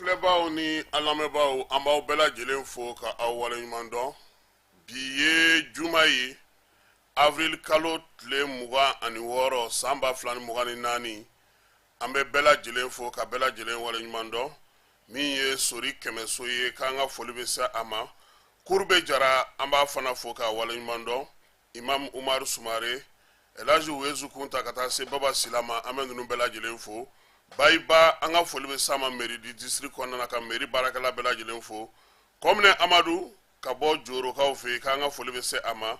filɛbaaw ni an lamɛnbaaw an b'aw bɛɛ lajɛlen fo ka aw waleɲuman dɔn bi ye juma ye avril kalo tile mugan ani wɔɔrɔ san ba fila ni mugan ni naani an bɛ bɛɛ lajɛlen fo ka bɛɛ lajɛlen waleɲuman dɔn min ye sori kɛmɛso ye k'an ka foli bɛ se a ma kurube jara an b'a fana fo ka waleɲuman dɔn imam umaru sumare elhadji wezu kunta ka taa se baba sila ma an bɛ ninnu bɛɛ lajɛlen fo bayiba an ka foli bɛ s'a ma mairie du district kɔnɔna na ka mairie baarakɛla bɛɛ lajɛlen fo komine amadu ka bɔ jorokaw fɛ yen k'an ka foli bɛ se a ma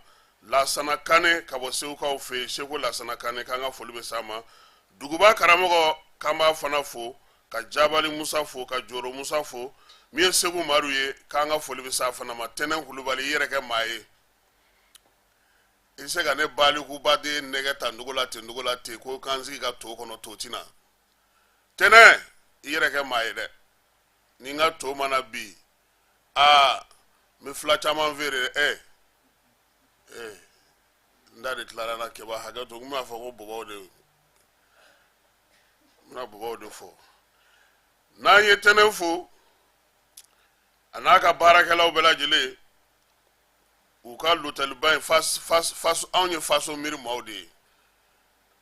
lasana kane ka bɔ segukaw fɛ yen seko lasana kane k'an ka foli bɛ se a ma duguba karamɔgɔ k'an b'a fana fo ka jabali musa fo ka joro musa fo min ye segu maru ye k'an ka foli bɛ se a fana ma tɛnɛn kulubali i yɛrɛ kɛ maa ye i bɛ se ka ne balikubaden nɛgɛ ta ndugu la ten ndugu la ten ko k'an sigi ka to kɔnɔ to ti na tɛnɛn i yɛrɛ kɛ maa ye dɛ ni n ka to ma na bi aa n bɛ fila caman feere ɛ ɛ n da de tilara na keba hakɛ to n b'a fɔ ko bɔbɔw de n bɛna bɔbɔw de fɔ n'an ye tɛnɛn fo a n'a ka baarakɛlaw bɛɛ lajɛlen u ka lotɛliba in anw ye faso miiri maaw de ye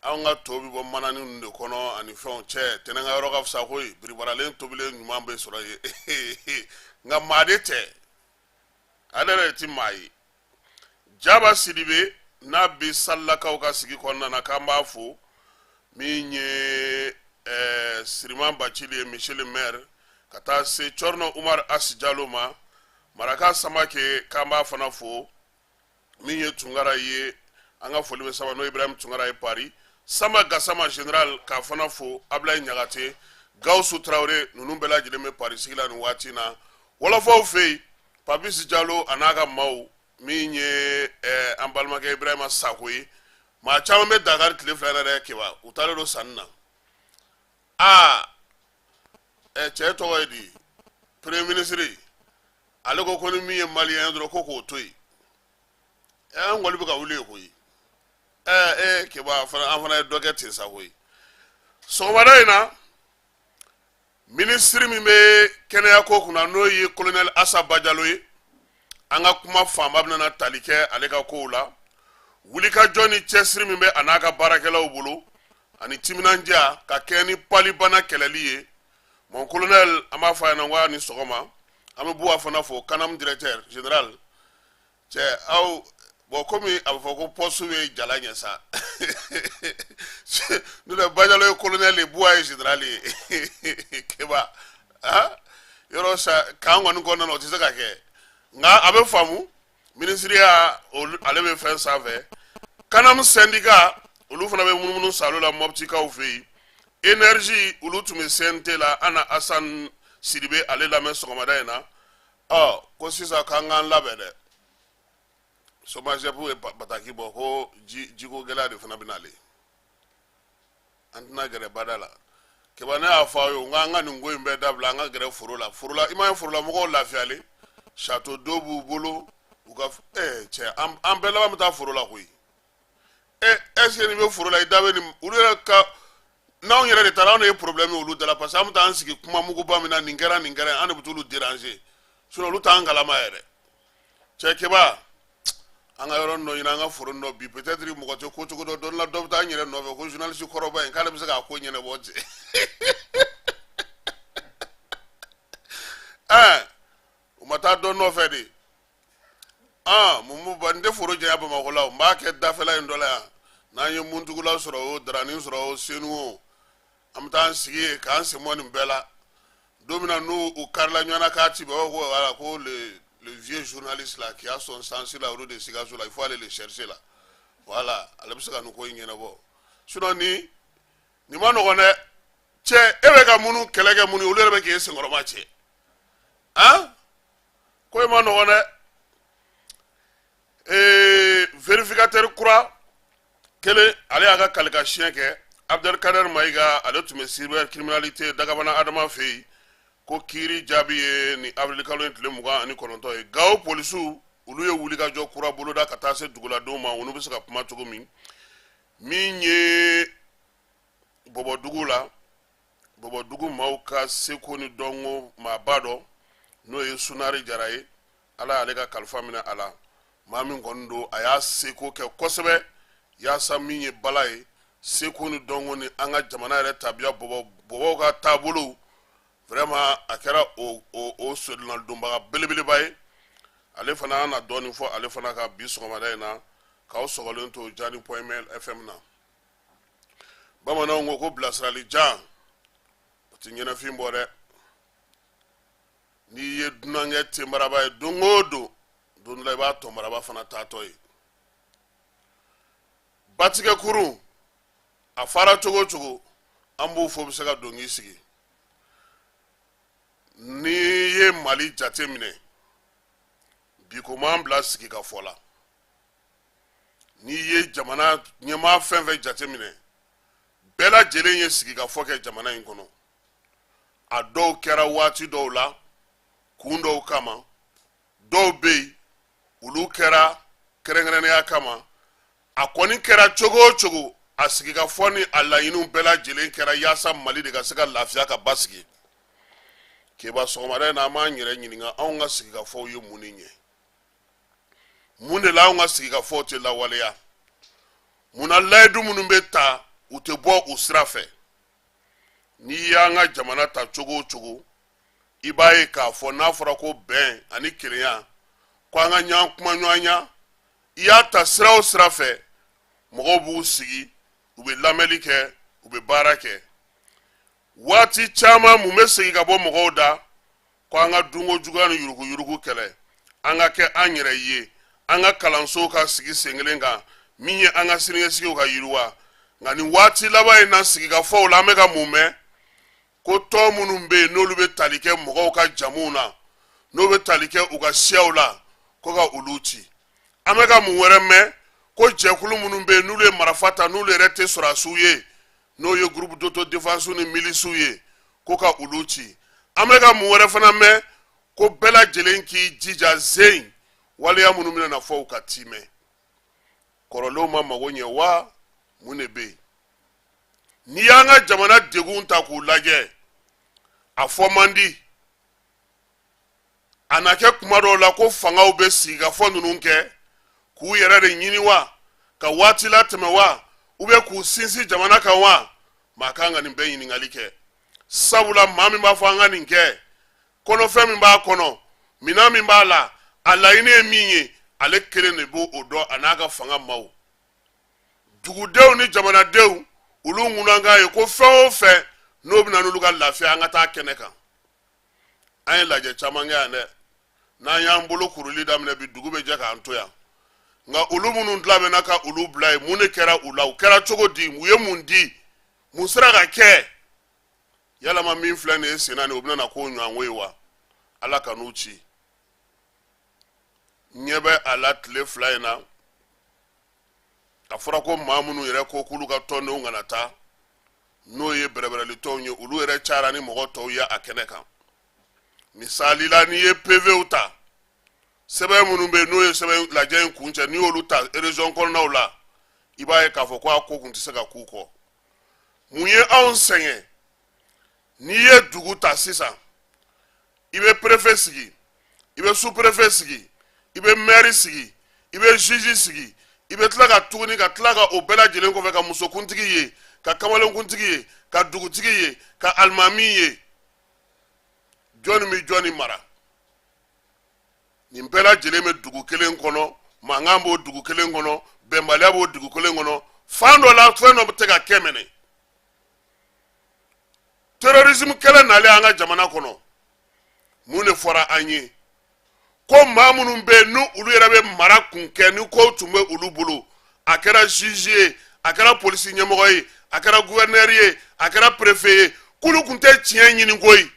anw ka to bɛ bɔ manani ninnu de kɔnɔ ani fɛnw cɛ tɛnɛn ka yɔrɔ ka fisa koyi biribaralen tobilen ɲuman bɛ sɔrɔ yen nka maa de tɛ ale yɛrɛ tɛ maa ye jaba sidibe n'a bɛ salilakaw ka sigi kɔnɔna na k'an b'a fo min ye siriman bacili ye monsieur le maire ka taa se cɔrɔnɔ umaru asi jalo ma maraka samake k'an b'a fana fo min ye tunkara ye an ka foli bɛ s'a ma n'o ibrahim tunkara ye paris samba gasama general k'a fana fo ablaye ɲagate gawusu tarawele ninnu bɛɛ lajɛlen bɛ paris sigi la nin waati na wɔlɔfɔw fɛ yen papisi jalo a n'a ka maaw min ye eh, an balimakɛ ibrahima sako ye maa caman bɛ dakari tile fila yɛrɛ dɛ keba u taalen don sanni na aa ɛ cɛ tɔgɔ ye di premier ministre ale ko ko ni min ye maliyɛn ye dɔrɔn ko k'o to yen ɛ an kɔni bɛ ka wuli yen koyi ɛ e keba fana an fana ye dɔ kɛ ten sa koyi sɔgɔmada in na minisiri min bɛ kɛnɛya ko kunna n'o ye kolonɛli asa bajalo ye an ka kuma fanba bɛna tali kɛ ale ka kow la wulikajɔ ni cɛsiri min bɛ a n'a ka baarakɛlaw bolo ani timinandiya ka kɛ ni palibana kɛlɛli ye mon colonel an b'a fɔ a ɲɛna ko ni sɔgɔma an bɛ buwa fana fo kanam directeur général cɛ aw bɔn komi a bɛ fɔ ko poste bɛ jala ɲɛ sa n'o tɛ bajalo ye colonel ye buwa ye général ye keba yɔrɔ sa kan kɔni kɔnɔna na o tɛ se ka kɛ nka a bɛ faamu minisiriya ale bɛ fɛn sanfɛ kanamu sɛndika olu fana bɛ munumunu salo la mɔbitikaw fɛ yen énergie olu tun bɛ cnt la an na asan sidibe ale lamɛn sɔgɔmada in na ɔ ko sisan k'an k'an labɛn dɛ somajɛpu ye bataki bɔ ko jiko gɛlɛya de fana bɛ n'ale an tɛna gɛrɛ bada la keba ne y'a fɔ aw ye n k'an ka nin ko in bɛɛ dabila an ka gɛrɛ foro la foro la i m'a ye forolamɔgɔw lafiyalen château d'eau b'u bolo u ka f- eh, cɛ an an bɛɛ laban bɛ taa foro la koyi e est-ce que nin bɛ foro la i da bɛ nin olu yɛrɛ ka n'anw yɛrɛ de taara anw de ye problème ye olu da la parce que an bɛ taa an sigi kuma muguba min na nin kɛra nin kɛra an de bɛ t'olu déranger sinon olu t'an kalama yɛrɛ cɛ keba an ka yɔrɔ dɔ ɲini an ka foro dɔ bin peut-être mɔgɔ tɛ ko cogo dɔ dɔn la dɔ bɛ taa an yɛrɛ nɔfɛ ko journaliste kɔrɔba in k'ale bɛ se k'a ko ɲɛnabɔ cɛ ɛɛ u ma taa dɔ nɔfɛ de aa mumu ba n tɛ foro janya bamakɔ la n b'a kɛ dafɛla in dɔ la yan n'an ye muntugula sɔrɔ o darani sɔrɔ o senu o an bɛ taa sigi ye k'an sɛmɔgɔ nin bɛɛ la don min na n'u u karila ɲɔgɔn k'a ci baba ko wala ko vye zurunli sila k'i y'a sɔn sansi la olu de sikaso la i fɔ ale de sɛrise la wala ale bɛ se ka nin ko in ɲɛnabɔ su ni nin ma nɔgɔ dɛ cɛ e bɛ ka mun kɛlɛ kɛ mun olu yɛrɛ bɛ k'i senkɔrɔma cɛ a ko e ma nɔgɔ dɛ ee vfinka teriri kura kelen ale y'a ka kalikan siɲɛ kɛ abdelkader mayiga ale tun bɛ cybercriminalité dagabana adama fɛ yen ko kiiri jaabi ye ni awirilikalo in tile mugan ani kɔnɔntɔn ye gawo polisiw olu ye wulikajɔ kura boloda ka taa se duguladenw ma olu bɛ se ka kuma cogo min min ye bɔbɔdugu la bɔbɔdugu maaw ka seko ni dɔnko maaba dɔ n'o ye sunari jara ye ala y'ale ka kalifa minɛ a la maa min kɔni don a y'a seko kɛ kosɛbɛ yaasa min ye bala ye seko ni dɔnko ni an ka jamana yɛrɛ tabiya bɔbɔ bɔbɔw ka taabolow vraiment a kɛra o o o sodonladonbaga belebeleba ye ale fana an na dɔɔnin fɔ ale fana kan bi sɔgɔmada in na k'aw sɔgɔlen to jani point ml fm na bamananw ko ko bilasirali jan o ti ɲɛnafin bɔ dɛ n'i ye dunankɛ tenbaraba ye don o don don dɔ la i b'a tɔnbaraba fana taatɔ ye batigɛ kurun a fara cogo o cogo an b'o fɔ bɛ se ka don k'i sigi n'i ye mali jate minɛ bi ko m'an bila sigikafɔ la n'i ye jamana ɲɛmaa fɛn fɛn jate minɛ bɛɛ lajɛlen ye sigikafɔ kɛ jamana in kɔnɔ a dɔw kɛra waati dɔw la kun dɔw kama dɔw bɛ yen olu kɛra kɛrɛnkɛrɛnnenya kama a kɔni kɛra cogo o cogo a sigikafɔ ni a laɲiniw bɛɛ lajɛlen kɛra yaasa mali de ka se ka lafiya ka basigi keba sɔgɔmada in na an b'an yɛrɛ ɲininka anw ka sigikafɔw ye mun de ɲɛ mun de la anw ka sigikafɔw tɛ lawaleya mun na layidu minnu bɛ ta u tɛ bɔ u sira fɛ n'i y'an ka jamana ta cogo o cogo i b'a ye k'a fɔ n'a fɔra ko bɛn ani kelenya ko an ka ɲɔgɔn kumaɲɔgɔnya i y'a ta sira o sira fɛ mɔgɔw b'u sigi u bɛ lamɛnni kɛ u bɛ baara kɛ waati caman mun bɛ segin ka bɔ mɔgɔw da ko an ka dunko juguya ni yuruguyurugu kɛlɛ an ka kɛ an yɛrɛ ye an ka kalansow ka sigi sen kelen kan min ye an ka siniɲɛsigiw ka yiriwa nka nin waati laban in na sigikafɔw la an bɛ ka mun mɛn ko tɔn minnu bɛ yen n'olu bɛ tali kɛ mɔgɔw ka jamuw na n'o bɛ tali kɛ u ka siyaw la ko ka olu ci an bɛ ka mun wɛrɛ mɛn ko jɛkulu minnu bɛ yen n'olu ye marifa ta n'olu yɛrɛ tɛ sɔrɔdasiw ye n'o ye groupe d'autodéfense ni milisiw ye ko ka olu ci an bɛ ka mun wɛrɛ fana mɛn ko bɛɛ lajɛlen k'i jija zen waleya minnu bɛna na fɔ u ka tiimɛ kɔrɔlenw ma mago ɲɛ wa mun de bɛ yen n'i y'an ka jamana degunw ta k'u lajɛ a fɔ man di a na kɛ kuma dɔw la ko fangaw bɛ sigikafɔ ninnu kɛ k'u yɛrɛ de ɲini wa ka waati latɛmɛ wa u bɛ k'u sinsin jamana kan wa maa kan ka nin bɛɛ ɲininkali kɛ sabula maa min b'a fɔ an ka nin kɛ kɔnɔfɛn min b'a kɔnɔ minɛn min b'a la a laɲini ye min ye ale kelen de b'o dɔn a n'a ka fanga maaw dugudenw ni jamanadenw olu ŋunankan ye ko fɛn o fɛn n'o bɛna n'olu ka lafiya an ka taa kɛnɛ kan an ye lajɛ caman kɛ yan dɛ n'an y'an bolo kuruli daminɛ bi dugu bɛ jɛ k'an to yan nka olu minnu dilabɛnna ka olu bila yen mun de kɛra u la u kɛra cogo di u ye mun di mun sera ka kɛ yalama min filɛ nin ye senna nin o bɛna na k'o ɲɔgɔnko ye wa ala ka n'u ci ɲɛ bɛ a la tile fila in na a fɔra ko maa minnu yɛrɛ ko k'olu ka tɔndenw kana taa n'o ye bɛrɛbɛrɛli tɔnw ye olu yɛrɛ cayara ni mɔgɔ tɔw ye a kɛnɛ kan misali la n'i ye pevew ta sɛbɛn minnu bɛ yen n'o ye sɛbɛn lajɛ in kuncɛ n'i y'olu ta erezɔn kɔnɔnaw la i b'a ye k'a fɔ ko a ko kun tɛ se ka k'u kɔ mun ye anw sɛgɛn n'i ye dugu ta sisan i bɛ perefe sigi i bɛ superefe sigi i bɛ mɛri sigi i bɛ zizi sigi i bɛ tila ka tuguni ka tila ka o bɛɛ lajɛlen kɔfɛ ka musokuntigi ye ka kamalenkuntigi ye ka dugutigi ye ka alimami ye jɔnni bɛ jɔnni mara nin bɛɛ lajɛlen bɛ dugu kelen kɔnɔ mankan b'o dugu kelen kɔnɔ bɛnbaliya b'o dugu kelen kɔnɔ fan dɔ la fɛn dɔ bɛ tɛ ka kɛ minɛ terrorisme kɛlɛ nalen an ka jamana kɔnɔ mun de fɔra an ye ko maa minnu bɛ yen n'olu yɛrɛ bɛ mara kun kɛ ni ko tun bɛ olu bolo a kɛra juge ye a kɛra polisi ɲɛmɔgɔ ye a kɛra gouverneur ye a kɛra préfet ye k'olu kun tɛ tiɲɛ ɲini koyi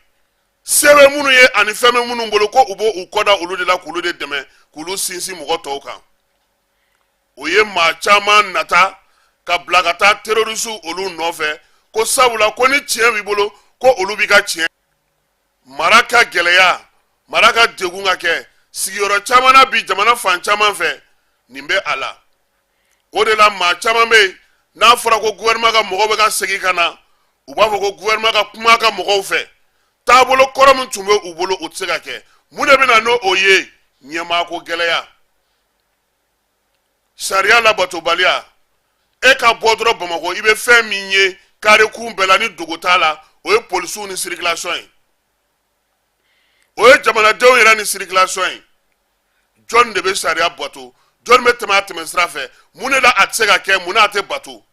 se bɛ minnu ye ani fɛn bɛ minnu bolo ko u b'u kɔ da olu de la k'olu de dɛmɛ k'olu sinsin mɔgɔ tɔw kan o ye maa caman nata ka bila ka taa terroristew olu nɔfɛ ko sabula ko ni tiɲɛ b'i bolo ko olu b'i ka tiɲɛ mara ka gɛlɛya mara ka degun ka kɛ sigiyɔrɔ caman na bi jamana fan caman fɛ nin bɛ a la o de la maa caman bɛ yen n'a fɔra ko gouvernement ka mɔgɔw bɛ ka segin ka na u b'a fɔ ko gouvernement ka kuma ka mɔgɔw fɛ taabolo kɔrɔ min tun bɛ u bolo o tɛ se ka kɛ mun de bɛ na n'o ye ɲɛmaako gɛlɛya sariya labatobaliya e ka bɔ dɔrɔn bamakɔ i bɛ fɛn min ye kare kun bɛɛ la ni dogo t'a la o ye polisiw ni sirikilasɔn ye o ye jamanadenw yɛrɛ ni sirikilasɔn ye jɔn de bɛ sariya bato jɔn bɛ tɛmɛ a tɛmɛ sira fɛ mun de la a tɛ se ka kɛ mun na a tɛ bato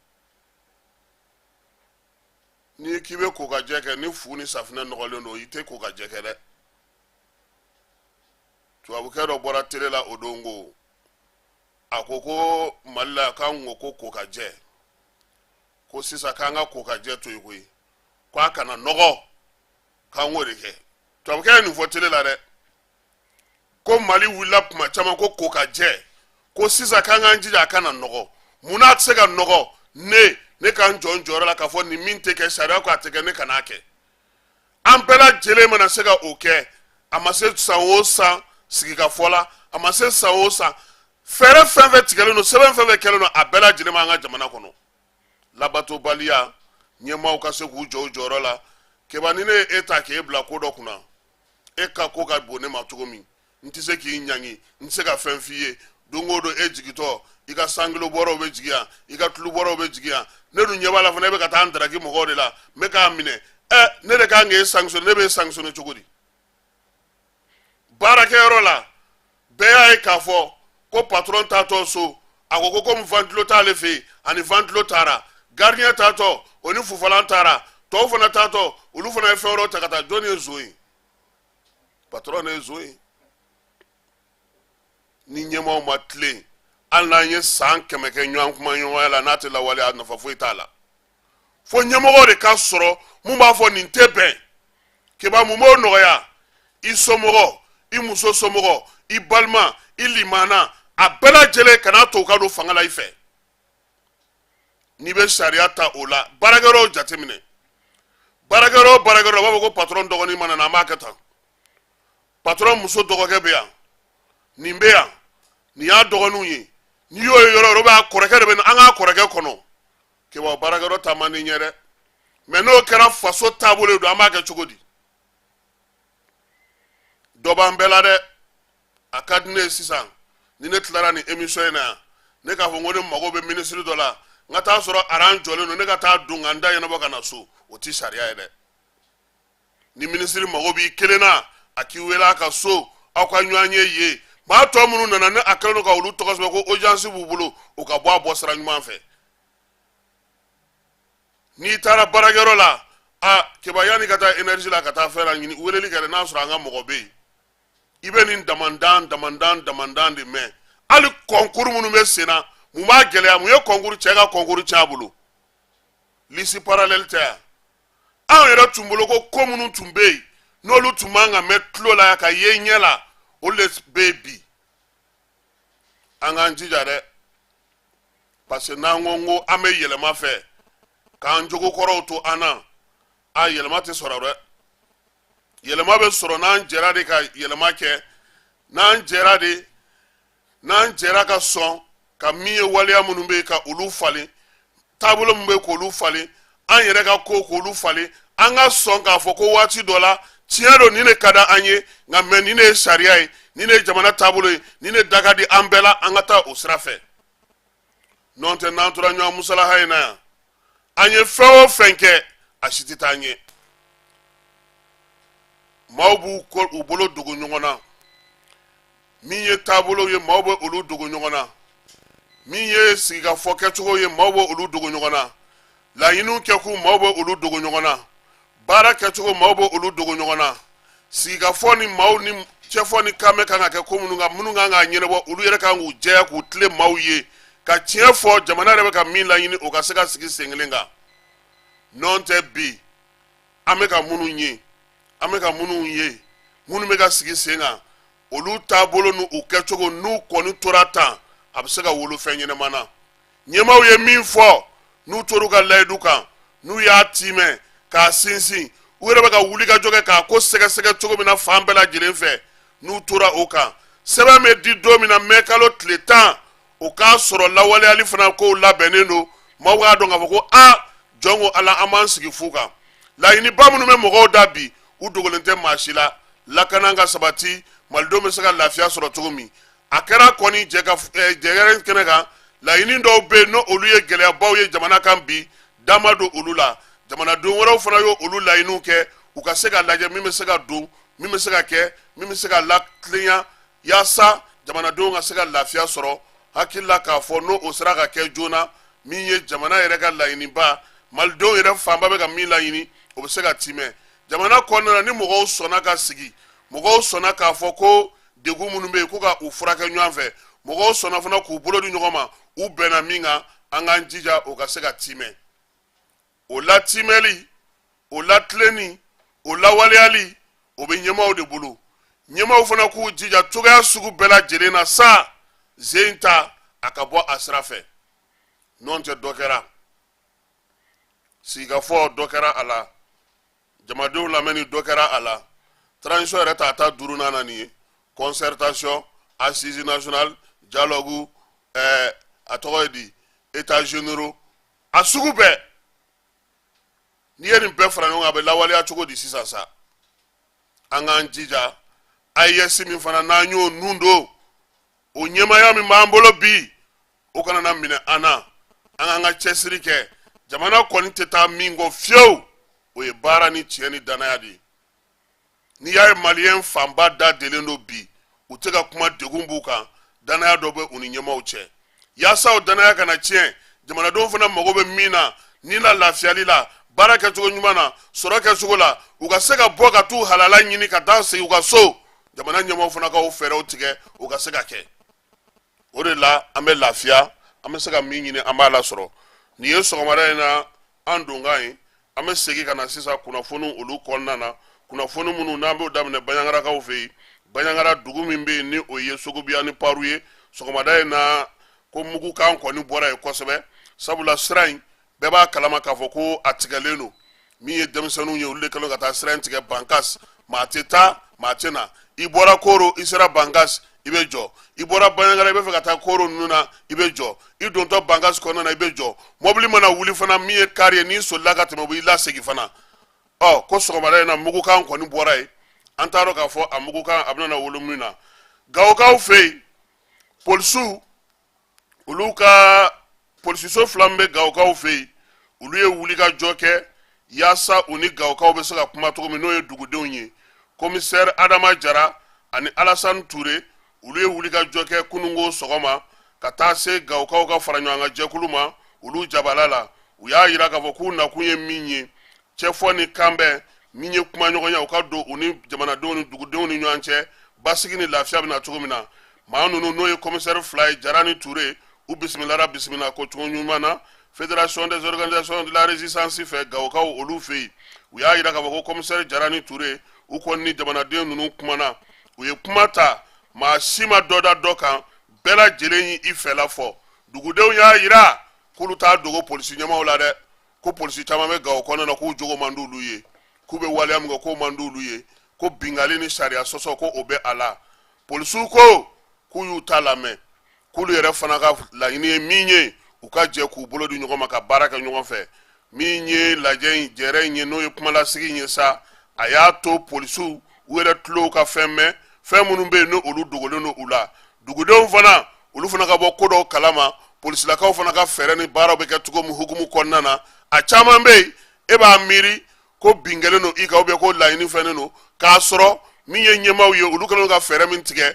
n'i k'i bɛ kokajɛ kɛ ni fu ni safinɛ nɔgɔlen don i tɛ kokajɛ kɛ dɛ tubabukɛ dɔ bɔra tele la o don ko a ko ko mali la k'an ko kokajɛ ko sisan k'an ka kokajɛ to yen koyi ko a kana nɔgɔ k'an k'o de kɛ tubabukɛ ye nin fɔ tele la dɛ ko mali wulila kuma caman ko kokajɛ ko sisan k'an k'an jija a kana nɔgɔ mun n'a tɛ se ka nɔgɔ ne ne ka n jɔ n jɔyɔrɔ la k'a fɔ nin min tɛ kɛ sariya ko a tɛ kɛ ne kan'a kɛ an bɛɛ lajɛlen mana se ka o kɛ a ma se san o san sigikafɔ la a ma se san o san fɛɛrɛ fɛn fɛn tigɛlen don sɛbɛn fɛn fɛn kɛlen don a bɛɛ lajɛlen b'an ka jamana kɔnɔ labatobaliya ɲɛmaaw ka se k'u jɔ u jɔyɔrɔ la keba ni ne ye e ta k'e bila ko dɔ kunna e ka ko ka bon ne ma cogo min n tɛ se k'i ɲangi n tɛ se ka fɛn f'i ye don o don e jigitɔ i ka sankilo bɔrɔw bɛ jigi yan i ka tulu bɔrɔw bɛ jigi yan ne dun ɲɛ b'a la fana e bɛ ka taa n daraki mɔgɔw de la n bɛ k'a minɛ ɛ ne de kan k'e sankisɔne ne b'e sankisɔne cogo di baarakɛyɔrɔ la bɛɛ y'a ye k'a fɔ ko patɔrɔn taatɔ so a ko ko komi vantilo t'ale fɛ yen a ni vantilo taara gardiyɛn taatɔ o ni fufalan taara tɔw fana taatɔ olu fana ye fɛn wɛrɛw ta ka taa jɔnni ye nson ye patɔrɔn de ye nson ye ni ɲɛmaaw ma tilen hali n'an ye san kɛmɛ kɛ ɲɔgɔn kumaɲɔgɔnya la n'a tɛ lawaleya nafa foyi t'a la fo ɲɛmɔgɔ de ka sɔrɔ mun b'a fɔ nin tɛ bɛn keba mun b'o nɔgɔya i somɔgɔ i muso somɔgɔ i balima i limaana a bɛɛ lajɛlen kan'a to u ka don fanga la i fɛ n'i bɛ sariya ta o la baarakɛyɔrɔw jateminɛ baarakɛyɔrɔ o baarakɛyɔrɔ u b'a fɔ ko patɔrɔn dɔgɔnin mana na an b'a kɛ tan patɔrɔn muso dɔgɔkɛ bɛ yan nin bɛ yan nin y'a dɔgɔninw ye n'i y'o ye yɔrɔ o yɔrɔ b'a kɔrɔkɛ de bɛ na an k'a kɔrɔkɛ kɔnɔ keba baarakɛyɔrɔ taa man di ɲɛ dɛ mɛ n'o kɛra faso taabolo don an b'a kɛ cogo di dɔ b'an bɛɛ la dɛ a ka di ne ye sisan ni ne tilara nin emisɔn in na yan ne k'a fɔ ko ne mago bɛ minisiri dɔ la n ka taa sɔrɔ aran jɔlen don ne ka taa don ka n ta ɲɛnabɔ ka na so o tɛ sariya ye dɛ ni minisiri mago b'i kelen na a k'i wele a ka so aw ka ɲɔgɔn ye yen maa tɔ minnu nana ne a kɛlen don ka olu tɔgɔ sɛbɛn ko ojansi b'u bolo u ka bɔ a bɔ sira ɲuman fɛ n'i taara baarakɛyɔrɔ la a keba yanni ka taa enɛrizi la ka taa fɛn la ɲini weleli kɛ n'a sɔrɔ an ka mɔgɔ bɛ yen i bɛ nin damandan damandan damandan de mɛn hali kɔnkuru minnu bɛ sen na mun b'a gɛlɛya mun ye kɔnkuru cɛ ka kɔnkuru cɛn a bolo lisi paralɛli tɛ yan anw yɛrɛ tun b'o lɔn ko ko minnu tun bɛ yen n'olu tun man ka mɛn tulo la ka ye ɲɛ la olu de bɛ yen bi an k'an jija dɛ parce que n'an ko ko an bɛ yɛlɛma fɛ k'an jogo kɔrɔw to an na a yɛlɛma tɛ sɔrɔ dɛ yɛlɛma bɛ sɔrɔ n'an jɛra de ka yɛlɛma kɛ n'an jɛra de n'an jɛra ka sɔn ka min ye waleya minnu bɛ yen ka olu falen taabolo minnu bɛ yen k'olu falen an yɛrɛ ka kow k'olu falen an ka sɔn k'a fɔ ko waati dɔ la tiɲɛ don nin de ka di an ye nka mɛ nin de ye sariya ye nin de ye jamana taabolo ye nin de da ka di an bɛɛ la an ka taa o sira fɛ nɔntɛ n'an tora ɲɔgɔn musalaha in na yan an ye fɛn o fɛn kɛ a si tɛ taa ɲɛ maaw bɛ k'u bolo dogo ɲɔgɔn na min ye taabolow ye maaw bɛ olu dogo ɲɔgɔn na min ye sigikafɔ kɛcogo ye maaw bɛ olu dogo ɲɔgɔn na laɲiniw kɛkun maaw bɛ olu dogo ɲɔgɔn na baara kɛcogo maaw bɛ olu dogo ɲɔgɔn na sigikafɔ ni maaw ni cɛfɔ ni kanbɛn kan ka kɛ ko minnu kan minnu kan ka ɲɛnabɔ olu yɛrɛ kan k'u jɛya k'u tilen maaw ye ka tiɲɛ fɔ jamana yɛrɛ bɛ ka min laɲini o ka se ka sigi sen kelen kan nɔntɛ bi an bɛ ka minnu ye an bɛ ka minnu ye minnu bɛ ka sigi sen kan olu taabolo ni u kɛcogo n'u kɔni tora tan a bɛ se ka wolo fɛn ɲɛnama na ɲɛmaaw ye min fɔ n'u tor'u ka layidu kan n'u y'a tiimɛ k'a sinsin u yɛrɛ bɛ ka wuli ka jɔ kɛ k'a ko sɛgɛsɛgɛ cogo min na fan bɛɛ lajɛlen fɛ n'u tora o kan sɛbɛn bɛ di don min na mɛ kalo tile tan o k'a sɔrɔ lawaleyali fana kow labɛnnen don maaw k'a dɔn k'a fɔ ko a jɔn ko ala an m'an sigi fu kan laɲiniba minnu bɛ mɔgɔw da bi u dogolen tɛ maa si la lakana ka sabati malidenw bɛ se ka lafiya sɔrɔ cogo min a kɛra kɔni jɛ jɛgɛrɛ kɛnɛ kan laɲini dɔw bɛ yen n' olu ye gɛlɛyabaw ye jamana kan bi da ma don olu la jamanaden wɛrɛw fana ye olu laɲiniw kɛ u ka se ka lajɛ min bɛ se ka don min bɛ se ka kɛ min bɛ se ka latilenya yaasa jamanadenw ka se ka lafiya sɔrɔ hakilila k'a fɔ n' o sera ka kɛ joona min ye jamana yɛrɛ ka laɲiniba malidenw yɛrɛ fanba bɛ ka min laɲini o bɛ se ka tiimɛ jamana kɔnɔna ni mɔgɔw sɔnna ka sigi mɔgɔw sɔnna k'a fɔ ko degun minnu bɛ yen ko ka u furakɛ ɲɔgɔn fɛ mɔgɔw sɔnna fana k'u bolo di ɲɔgɔn ma u bɛnna min kan an k'an jija o ka se ka tiimɛ o latiimɛli o latilenni o lawaleyali o bɛ ɲɛmaaw de bolo ɲɛmaaw fana k'u jija cogoya sugu bɛɛ lajɛlen na sa sen ta a ka bɔ a sira fɛ nɔntɛ dɔ kɛra sigikafɔ dɔ kɛra a la jamadenw lamɛnni dɔ kɛra a la transition yɛrɛ ta ta duurunan na nin ye concertation assises nationales dialogue ɛɛ a tɔgɔ ye di états généraux a sugu bɛɛ n'i ye nin bɛɛ fara ɲɔgɔn kan a bɛ lawaleya cogo di sisan sa an k'an jija AES min fana n'an y'o nun don o ɲɛmaaya min b'an bolo bi o kana na minɛ an na an k'an ka cɛsiri kɛ jamana kɔni tɛ taa min kɔ fiyewu o ye baara ni tiɲɛ ni danaya de ye n'i y'a ye maliyɛn fanba da delen don bi u tɛ ka kuma degun b'u kan danaya dɔ bɛ u ni ɲɛmaaw cɛ yaasa o danaya kana tiɲɛ jamanadenw fana mago bɛ min na ni la lafiyali la baara kɛcogo ɲuman na sɔrɔ kɛcogo la u ka se ka bɔ ka t'u halala ɲini ka taa segin u ka so jamana ɲɛmaaw fana ka o fɛɛrɛw tigɛ u ka se ka kɛ o de la an bɛ lafiya an bɛ se ka min ɲini an b'a lasɔrɔ nin ye sɔgɔmada in na an donkan ye an bɛ segin ka na sisan kunnafoni olu kɔnɔna na kunnafoni minnu n'an b'o daminɛ banjagarakaw fɛ yen banjagara dugu min bɛ yen ni o ye songobiya ni paru ye sɔgɔmada in na ko mugukan kɔni bɔra yen kosɛbɛ sabula sira in bɛɛ b'a kalama k'a fɔ ko a tigɛlen don min ye denmisɛnninw ye olu de kɛlen ka taa sira in tigɛ bankas maa tɛ taa maa tɛ na i bɔra koro i sera bankas i bɛ jɔ i bɔra banyangara i bɛ fɛ ka taa koro ninnu na i bɛ jɔ i dontɔ bankas kɔnɔna na i bɛ jɔ mɔbili mana wuli fana min ye kari ye n'i solila ka tɛmɛ u b'i lasegin fana ɔ ko sɔgɔmada in na mugukan kɔni bɔra yen an t'a dɔn k'a fɔ a mugukan a bɛna wolo min na gawokaw fɛ yen polisiw olu ka polisiso fila min bɛ gawokaw fɛ yen olu ye wulikajɔ kɛ yaasa u ni gawokaw bɛ se ka kuma cogo min n'o ye dugudenw ye kɔmisɛri adama jara ani alasan ture olu ye wulikajɔ kɛ kununko sɔgɔma ka taa se gawokaw ka faraɲɔgɔnkan jɛkulu ma olu jabala la u y'a jira k'a fɔ k'u nakun ye min ye cɛfɔ ni kanbɛn min ye kumaɲɔgɔnya u ka don u ni jamanadenw ni dugudenw ni ɲɔgɔn cɛ basigi ni lafiya bɛ na cogo min na maa ninnu n'o ye kɔmisɛri fila ye jara ni ture u bisimilara bisimila ko cogo ɲuman na fédération des organisations de la résistance fɛ gawokaw olu fɛ yen u y'a jira k'a fɔ ko kɔmisɛri jara ni ture u kɔni ni jamanaden ninnu kumana u ye kuma ta maa si ma dɔ da dɔ kan bɛɛ lajɛlen y'i fɛla fɔ dugudenw y'a jira k'olu t'a dogo polisi ɲɛmaaw la dɛ ko polisi caman bɛ gawo kɔnɔna na k'u jogo man d'olu ye k'u bɛ waleya min kɛ k'o man d'olu ye ko binkanni ni sariya sɔsɔ ko o bɛ a la polisiw ko k'u y'u ta lamɛn k'olu yɛrɛ fana ka laɲini ye min ye u ka jɛ k'u bolo di ɲɔgɔn ma ka baara kɛ ɲɔgɔn fɛ min ye lajɛ in jɛrɛ in ye n'o ye kumalasigi in ye sa a y'a to polisiw u yɛrɛ tulow ka fɛn mɛn fɛn minnu bɛ yen n'olu dogolen don u la dugudenw fana olu fana ka bɔ ko dɔw kalama polisilakaw fana ka fɛɛrɛ ni baaraw bɛ kɛ cogo min hukumu kɔnɔna na a caman bɛ yen e b'a miiri ko bin kɛlen don i kan ou bien ko laɲini fɛnnen don k'a sɔrɔ min ye ɲɛmaaw ye olu kɛlen ka fɛɛrɛ min tigɛ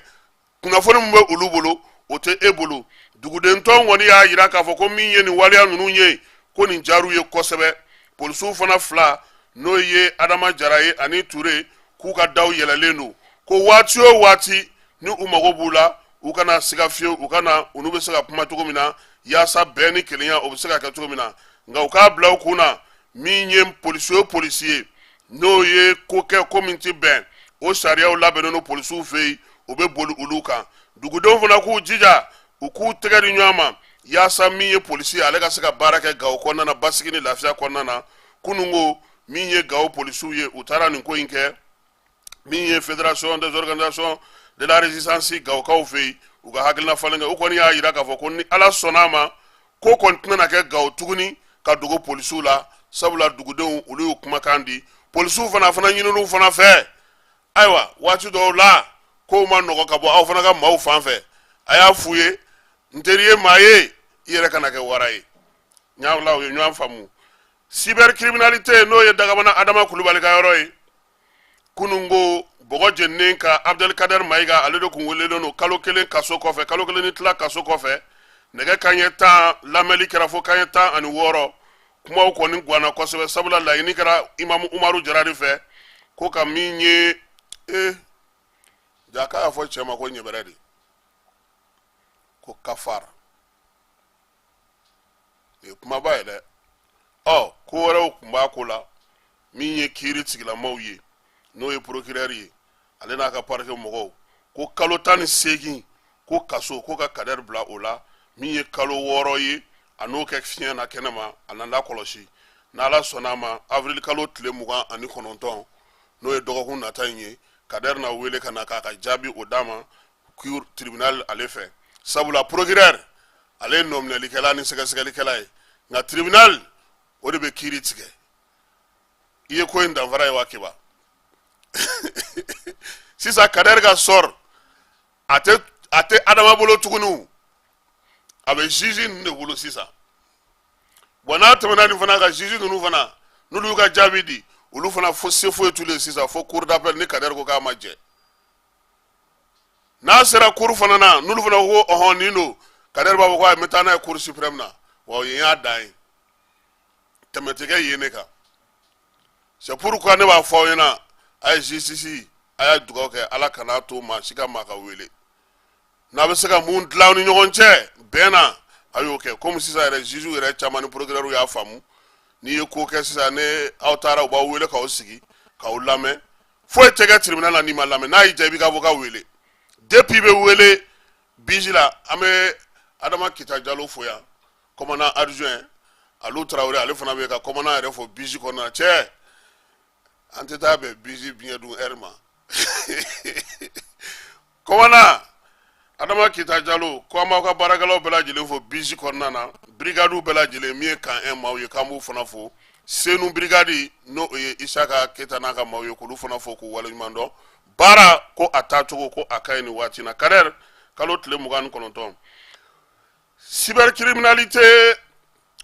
kunnafoni min bɛ olu bolo o tɛ e bolo dugudentɔn kɔni y'a jira k'a fɔ ko min ye nin waleya ninnu ye ko nin diyar'u ye kosɛbɛ polisiw fana fila n'o ye adama jara ye ani ture k'u ka daw yɛlɛlen don ko waati o waati ni u mago b'u la u kana siga fiyewu u ka na olu bɛ se ka kuma cogo min na yaasa bɛn ni kelenya o bɛ se ka kɛ cogo min na nka u k'a bila u kun na min ye polisi o polisi ye n'o ye ko kɛ ko min ti bɛn o sariyaw labɛnnen don polisiw fɛ yen u bɛ boli olu kan dugudenw fana k'u jija u k'u tɛgɛ di ɲɔgɔn ma yaasa min ye polisi ye ale ka se ka baara kɛ gawo kɔnɔna na basigi ni lafiya kɔnɔna na kununko min ye gawo polisiw ye u taara nin ko in kɛ min ye fédération des organisations de la résistance gawokaw fɛ yen u ka hakilina falen kɛ u kɔni y'a jira k'a fɔ ko ni ala sɔnna a ma ko kɔni tɛna kɛ gawo tuguni ka dogo polisiw la sabula dugudenw olu y'u kumakan di polisiw fana fana ɲininiw fana fɛ ayiwa waati dɔw la kow ma nɔgɔ ka bɔ aw fana ka maaw fan fɛ a y'a f'u ye n teri ye maa ye i yɛrɛ kana kɛ wara ye maaw la aw ye ɲɔgɔn faamu cybercriminalité n'o ye dagabana adama kulubali ka yɔrɔ ye kunun ko bɔgɔ jeninen ka abudɛli kadɛri mayiga ale de kun welelen don kalo kelen kaso kɔfɛ kalo kelen ni tila kaso kɔfɛ nɛgɛ kanɲɛ tan lamɛnli kɛra fo kanɲɛ tan ani wɔɔrɔ kumaw kɔni gwanna kosɛbɛ sabula laɲini kɛra imamu umaru jara de fɛ ko ka min ye e ja k'a y'a fɔ cɛ ma ko ɲɛbɛrɛ de ko kafara nin ye kumaba ye dɛ ɔ ko wɛrɛw kun b'a ko la min ye kiiritigɛla maaw ye n'o ye procureur ye ale n'a ka parquet mɔgɔw ko kalo tan ni seegin ko kaso ko ka kadɛri bila o la min ye kalo wɔɔrɔ ye a n'o kɛ fiɲɛ na kɛnɛma a n'a lakɔlɔsi n'ala sɔnna a ma avril kalo tile mugan ani kɔnɔntɔn n'o ye dɔgɔkun nata in ye kadɛri na wele ka na k'a ka jaabi o d'a ma tribunal ale fɛ sabula procureur ale ye nɔminɛlikɛla ni sɛgɛsɛgɛlikɛla ye nka tribunal o de bɛ kiiri tigɛ i ye ko in danfara ye wa kiba sisan kadɛri ka sort a tɛ a tɛ adama bolo tuguni a bɛ juge ninnu de bolo sisan bon n'a tɛmɛna nin fana ka juge ninnu fana n'olu y'u ka jaabi di olu fana fo se foyi t'u ye sisan fo cour d'appel ni kadɛri ko k'a ma jɛ n'a sera cour fana na n'olu fana ko ɔhɔn nin don kadɛri b'a fɔ ko a bɛ taa n'a ye cour suprême na wa o yen y'a dan ye tɛmɛ tɛ kɛ yen ne kan c'est pourquoi ne b'a fɔ aw ɲɛna a ye justice a y'a dugawu kɛ ala kan'a to maa si ka maa ka wele N'a bɛ se ka mun dilan aw ni ɲɔgɔn cɛ bɛn na a y'o kɛ kɔmi sisan yɛrɛ jugew yɛrɛ caman ni procureurw y'a faamu n'i ye ko kɛ sisan ni aw taara u b'aw wele k'aw sigi k'aw lamɛn foyi tɛ kɛ tribunal la n'i ma lamɛn n'a y'i diya i b'i ka avocat wele depuis i bɛ wele biji la an bɛ adama kita jalo fo yan commandant adjoint alu tarawele ale fana bɛ ka commandant yɛrɛ fo biji kɔnɔna cɛ an tɛ taa bɛn biji vin d'honneur ma Commandant adama kita jalo ko an b'aw ka baarakɛlaw bɛɛ lajɛlen fo biji kɔnɔna na brigadew bɛɛ lajɛlen min ye camp un maaw ye k'an b'u fana fo senu brigade n'o ye isaka keyita n'a ka maaw ye k'olu fana fo k'u waleɲuman dɔn baara ko a taacogo ko a ka ɲi nin waati na kadɛri kalo tile mugan ni kɔnɔntɔn cybercriminalité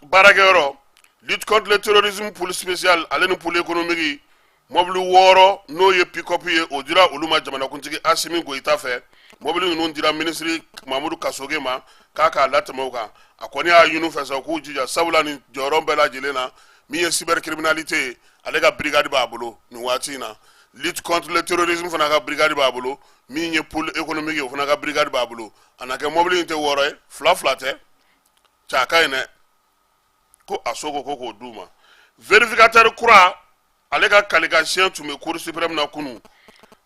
baarakɛyɔrɔ lutte contre le terrorisme pôle spécial ale ni pôle économique mɔbili wɔɔrɔ n'o ye pikɔpu ye o dira olu ma jamanakuntigi asimi goyita fɛ mɔbili ninnu dira minisiri mamudu kasoge ma k'a k'a latɛmɛ u kan a kɔni y'a ɲin'u fɛ sa u k'u jija sabula nin jɔyɔrɔ bɛɛ lajɛlen na min ye cybercriminalité ye ale ka brigade b'a bolo nin waati in na lutte contre le terrorisme fana ka brigade b'a bolo min ye pôle économique ye o fana ka brigade b'a bolo a na kɛ mɔbili in tɛ wɔɔrɔ ye fila fila tɛ cɛ a ka ɲi dɛ ko aso ko ko k'o d'u ma vérificateur kura ale ka kalikansiɲɛ tun bɛ cour suprême na kunu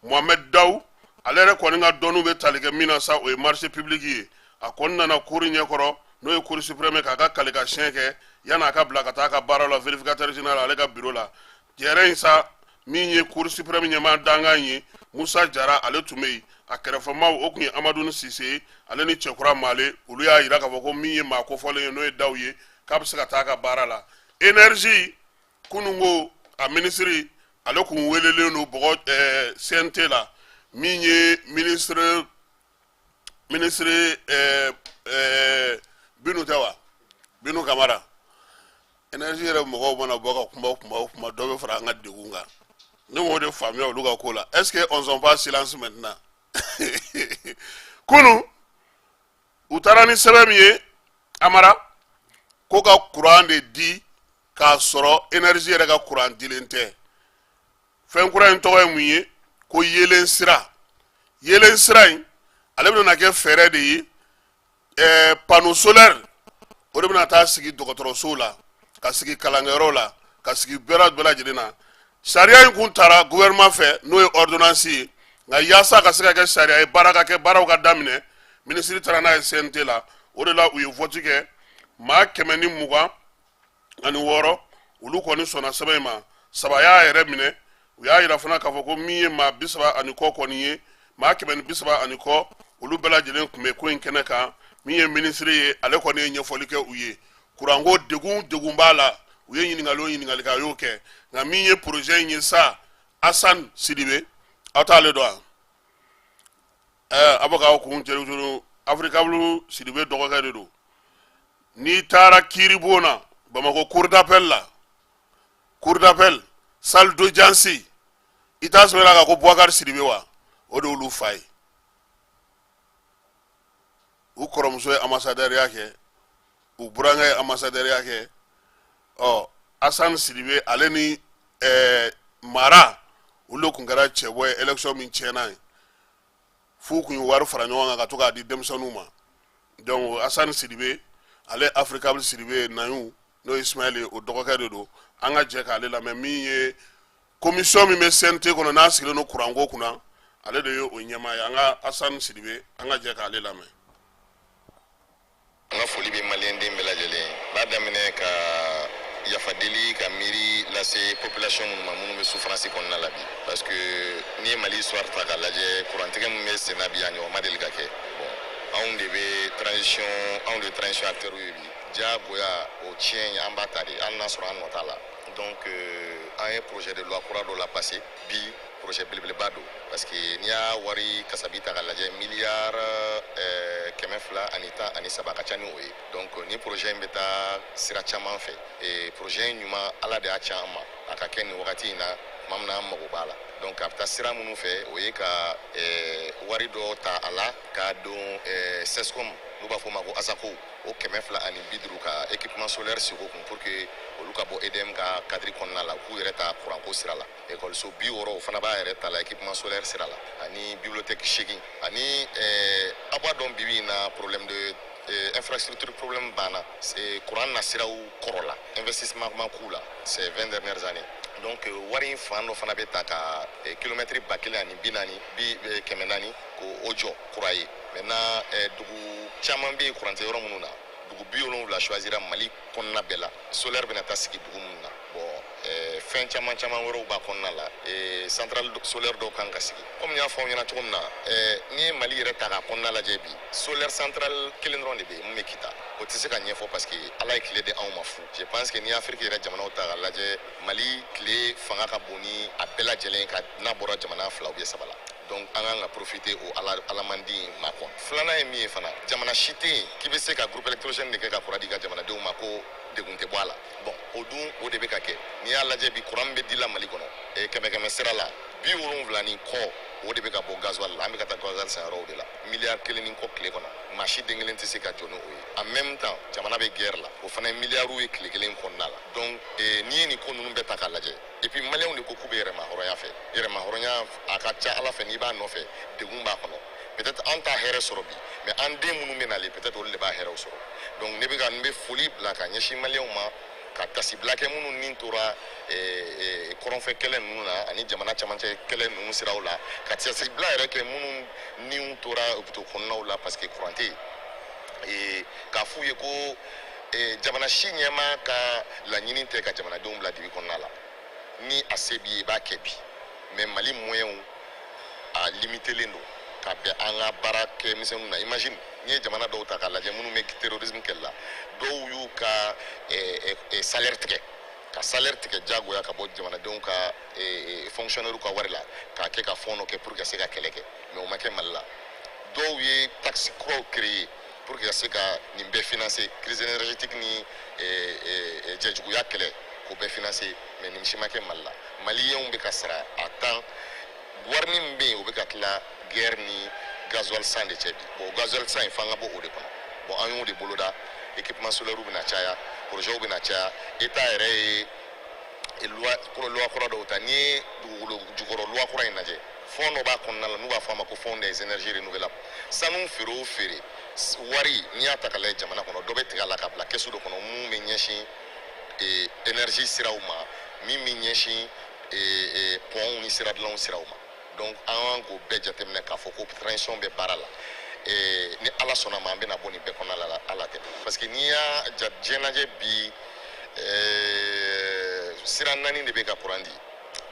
mohamɛd daw ale yɛrɛ kɔni ka dɔnniw bɛ tali kɛ min na sa o ye marché public ye a kɔni nana cour ɲɛ kɔrɔ n'o ye cour suprême ye k'a ka kalikansiɲɛ kɛ yan'a ka bila ka taa a ka baara la vérificateur général ale ka biro la jɛrɛ in sa min ye cour suprême ɲɛmaa dankan ye musa jara ale tun bɛ yen a kɛrɛfɛmaw o tun ye amadun sise ye ale ni cɛkura male olu y'a jira k'a fɔ ko min ye maa kofɔlen ye n'o ye daw ye k'a bɛ se ka taa a ka baara la énergie kunun ko a minisiri ale kun welelen don bɔgɔ ɛɛ cnt la min ye minisiri minisiri ɛɛ ɛɛ binu tɛ wa binu kamara énergie yɛrɛ mɔgɔw mana bɔ ka kuma o kuma o kuma dɔ bɛ fara an ka degun kan ne m'o de faamuya olu ka ko la est ce que on sont pas silence maintenant kunu u taara ni sɛbɛn min ye amara ko ka kuran de di k'a sɔrɔ énergie yɛrɛ ka kuran dilen tɛ fɛn kura in tɔgɔ ye mun ye ko yeelen sira yeelen sira in ale bɛna kɛ fɛɛrɛ de ye ɛɛ eh, panneau solaire o de bɛna taa sigi dɔgɔtɔrɔsow la ka sigi kalankɛyɔrɔw la ka sigi bɛɛ bɛɛ lajɛlen na sariya in kun taara gouvernement fɛ n'o ye ordonnance ye nka yaasa ka se ka kɛ sariya ye baara ka kɛ baaraw ka daminɛ minisiri taara n'a ye CNT la o de la u ye vote kɛ maa kɛmɛ ni mugan ani wɔɔrɔ olu kɔni sɔnna sɛbɛn in ma saba y'a yɛrɛ minɛ u y'a yira fana k'a fɔ ko min ye maa bi saba ani kɔ kɔni ye maa kɛmɛ ni bi saba ani kɔ olu bɛɛ lajɛlen tun bɛ ko in kɛnɛ kan min ye minisiri ye ale kɔni ye ɲɛfɔli kɛ u ye kuranko degun degun b'a la u ye ɲininkali o ɲininkali kɛ a y'o kɛ nka min ye porozɛ in ye sa asan sidibe aw t'ale dɔn wa A bɛ k'aw kun cɛ africable sidibe dɔgɔkɛ de don n'i taara kiiribon na bamakɔ cour d'appel la cour d'appel salle d'audience i t'a sɔrɔ la ka ko bubakari sidibe wa o de olu fa ye u kɔrɔmuso ye ambasadɛriya kɛ u burankɛ ye ambasadɛriya kɛ ɔ asan sidibe ale ni ɛɛ mara olu kun kɛra cɛbɔ ye élection min tiɲɛna ye f'u kun ye wari fara ɲɔgɔn kan ka to k'a di denmisɛnninw ma donc asan sidibe ale Africable sidibe nayu n'o ye Ismaël ye o dɔgɔkɛ de don an ka jɛ k'ale lamɛn min ye commission min bɛ CNT kɔnɔ n'a sigilen don kuranko kunna ale de ye o ɲɛmaa ye an ka Assane Sidibe an ka jɛ k'ale lamɛn. An ka foli bɛ maliyɛn den bɛɛ lajɛlen n b'a daminɛ ka yafa deli ka miiri lase population minnu ma minnu bɛ souffrance kɔnɔna la bi parce que n'i ye Mali histoire ta k'a lajɛ kurantigɛ min bɛ senna bi a ɲɔgɔn ma deli ka kɛ bon anw de bɛ transition anw de ye transition acteurs ye bi. diyagoya o tiɲɛ ye an b'a ta de hali n'a sɔrɔ an nɔ t'a la donc euh, an ye projet de loi kura dɔ la passé bi projet belebeleba don parce que n'i y'a wari kasabi ta ka lajɛ miliyari euh, kɛmɛ fila ani tan ani saba ka ca ni o ye donc ni projet in bɛ taa sira caman fɛ e projet in ɲuman ala de y'a ci an ma a ka kɛ nin wagati in na tuma min na an mago b'a la donc a bɛ taa sira minnu fɛ o ye ka euh, wari dɔ ta a la k'a don CSCOM n'u b'a fɔ o ma ko ASACO o kɛmɛ fila ani bi duuru ka équipement solaire sigi o kun pour que olu ka bɔ EDM ka kadiri kɔnɔna la k'u yɛrɛ ta kuranko sira la ekɔliso bi wɔɔrɔ o fana b'a yɛrɛ ta la équipement solaire sira la ani bibliothèque segin ani eh, aw b'a dɔn bibi in na problème de eh, infrastructure problème b'an na eh, kuran nasiraw kɔrɔla investissement ma k'u la ces 20 dernières années donc euh, wari in fan dɔ fana bɛ taa ka eh, kilomɛtiri ba kelen ani bi naani bi eh, kɛmɛ naani k'o jɔ kura ye maintenant eh, dugu caman bɛ yen kuran tɛ yɔrɔ minnu na dugu bi wolonwula choisira mali kɔnɔna bɛɛ la solaire bɛna taa sigi dugu minnu na bon eh, fɛn caman caman wɛrɛw b'a kɔnɔna la eh, central solaire dɔw kan ka sigi komi n y'a fɔ aw ɲɛna cogo min na eh, n'i ye mali yɛrɛ ta k'a kɔnɔna lajɛ bi solaire central kelen dɔrɔn de bɛ yen mun bɛ kita o tɛ se ka ɲɛfɔ parce que ala ye tile di anw ma fu je pense que n'i ye afiriki yɛrɛ jamanaw ta k'a lajɛ mali tile fanga ka bon ni a bɛɛ lajɛlen ka n'a bɔra jamana fila ou bien saba la donc an kan ka profiter o ala alamandi in ma quoi filanan ye min ye fana jamana si tɛ yen k'i bɛ se ka groupe électrogène de kɛ ka kuran d'i ka jamanadenw ma ko degun tɛ bɔ a la bon o dun o de bɛ ka kɛ n'i y'a lajɛ bi kuran bɛ dila mali kɔnɔ eh, kɛmɛ kɛmɛ sira la bi wolonwula ni kɔ o de bɛ ka bɔ gasoil la an bɛ ka taa gasoil san yɔrɔw de la miliyari kelen ni kɔ tile kɔnɔ maa si den kelen tɛ se ka jɔ ni o ye en même temps jamana bɛ guerre la o fana ye miliyariw ye tile kelen kɔnɔna la donc eh, n'i ye nin ko ninnu bɛɛ ta k'a lajɛ et puis maliyɛnw de ko k'u bɛ yɛrɛmahɔrɔnya fɛ yɛrɛmahɔrɔnya a ka ca a la fɛ n'i b'a nɔfɛ degun b'a kɔnɔ peut-être an t'a hɛrɛ sɔrɔ bi mais an den minnu bɛ nalen peut-être olu de b'a hɛrɛw sɔrɔ donc ne bɛ ka n bɛ foli bila ka ɲɛsin maliyɛnw ma ka tasibila kɛ minnu ni tora eh, eh, kɔrɔnfɛ kɛlɛ ninnu na ani jamana camancɛ kɛlɛ ninnu siraw la ka tasibila yɛrɛ kɛ minnu niw tora hôpitaux kɔnɔnaw la parce que kuran tɛ eh, k'a f'u ye ko eh, jamana si ɲɛmaa ka laɲini tɛ ka jamanadenw bila dibi kɔnɔna la ni a se b'i ye i b'a kɛ bi mais mali moyɛnw a limitelen don ka bɛn an ka baara kɛ misɛnninw na imagine n'i ye jamana dɔw ta k'a lajɛ minnu bɛ terrorisme kɛlɛ la dɔw y'u ka eh, eh, salaire tigɛ ka salaire tigɛ jagoya ka bɔ jamanadenw ka fonctionnaire ka wari la k'a kɛ ka fɔn dɔ kɛ pour que ka se ka kɛlɛ kɛ mais o ma kɛ mali la dɔw ye taxe kuraw créer pour que ka se ka nin bɛɛ financer crise énergétique ni jɛjuguya kɛlɛ k'o bɛɛ financer mais nin si ma kɛ Mali la maliyɛnw bɛ ka sara à temps wari min bɛ yen o bɛ ka tila guerre ni gasoil san de cɛ bi bon gasoil san in f'an ka bɔ o de kɔnɔ bon an y'o de boloda équipement solaire bɛna caya projets bɛna caya état yɛrɛ ye loi kura dɔw ta n'i ye dugukolo jukɔrɔ loi kura in lajɛ fɔn dɔ b'a kɔnɔna la n'u b'a fɔ a ma ko fonds des énergies renouvelables sanu feere o feere wari n'i y'a ta ka lajɛ jamana kɔnɔ dɔ bɛ tigɛ a la ka bila kɛsu dɔ kɔnɔ min bɛ ɲɛsin eh, énergie siraw ma min bɛ ɲɛsin eh, eh, pɔnw ni siradilanw siraw ma donc an kan k'o bɛɛ jateminɛ k'a fɔ ko transition bɛ baara la eh, ni ala sɔnna a ma an bɛna bɔ nin bɛɛ kɔnɔna la ala tɛ parce que n'i y'a ja diɲɛ lajɛ bi eh, sira naani de bɛ ka kuran di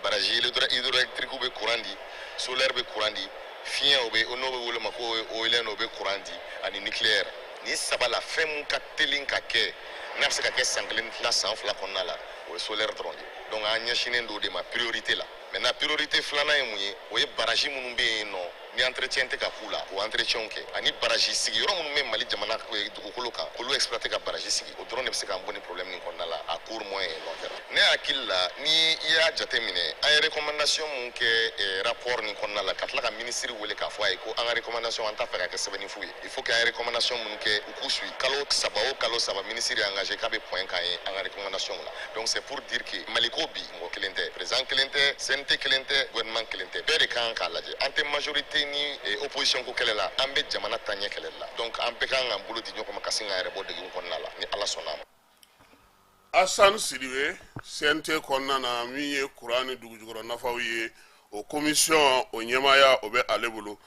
baraji hydroélectrique bɛ courant di solaire bɛ courant di fiɲɛ o bɛ n'o bɛ wele ma ko éolien o bɛ courant di ani nucléaire nin saba la fɛn min ka teli ka kɛ n'a bɛ se ka kɛ san kelen tila san fila kɔnɔna la o ye solaire dɔrɔn de donc an ɲɛsinnen don o de ma priorité la maintenant priorité filanan ye mun ye o ye baraji minnu bɛ yen nɔ ni entretien tɛ ka k'u la k'o entretienw kɛ ani baraji sigi yɔrɔ minnu bɛ mali jamana eh, dugukolo kan k'olu exploiter ka baraji sigi o dɔrɔn de bɛ se k'an bɔ ni problème nin kɔnɔna la à court moyen et long terme ne hakili la ni i y'a jate minɛ an ye recommandation min kɛ eh, rapport nin kɔnɔna la ka tila ka minisiri wele k'a fɔ a ye ko an ka recommandation an t'a fɛ ka kɛ sɛbɛnni fu ye il faut que an ye recommandation minnu kɛ u k'u suit kalo saba o kalo saba minisiri ye engagé k'a bɛ point k'an ye an ka recommandation la donc c'est pour dire que maliko bi mɔgɔ kelen tɛ président kelen tɛ CNT kelen tɛ gouvernement kelen tɛ bɛɛ de kan k'a lajɛ an tɛ majorité ni eh, opposition ko kɛlɛ la an bɛ jamana taaɲɛ kɛlɛli la donc an bɛɛ kan k'an bolo di ɲɔgɔn ma ka se k'an yɛrɛ bɔ degun kɔnɔna la ni ala sɔnna a ma asan sidibe CNT kɔnɔna na min ye kuran ni dugujukɔrɔ nafaw ye o komisiyɔn o ɲɛmaaya o bɛ ale bolo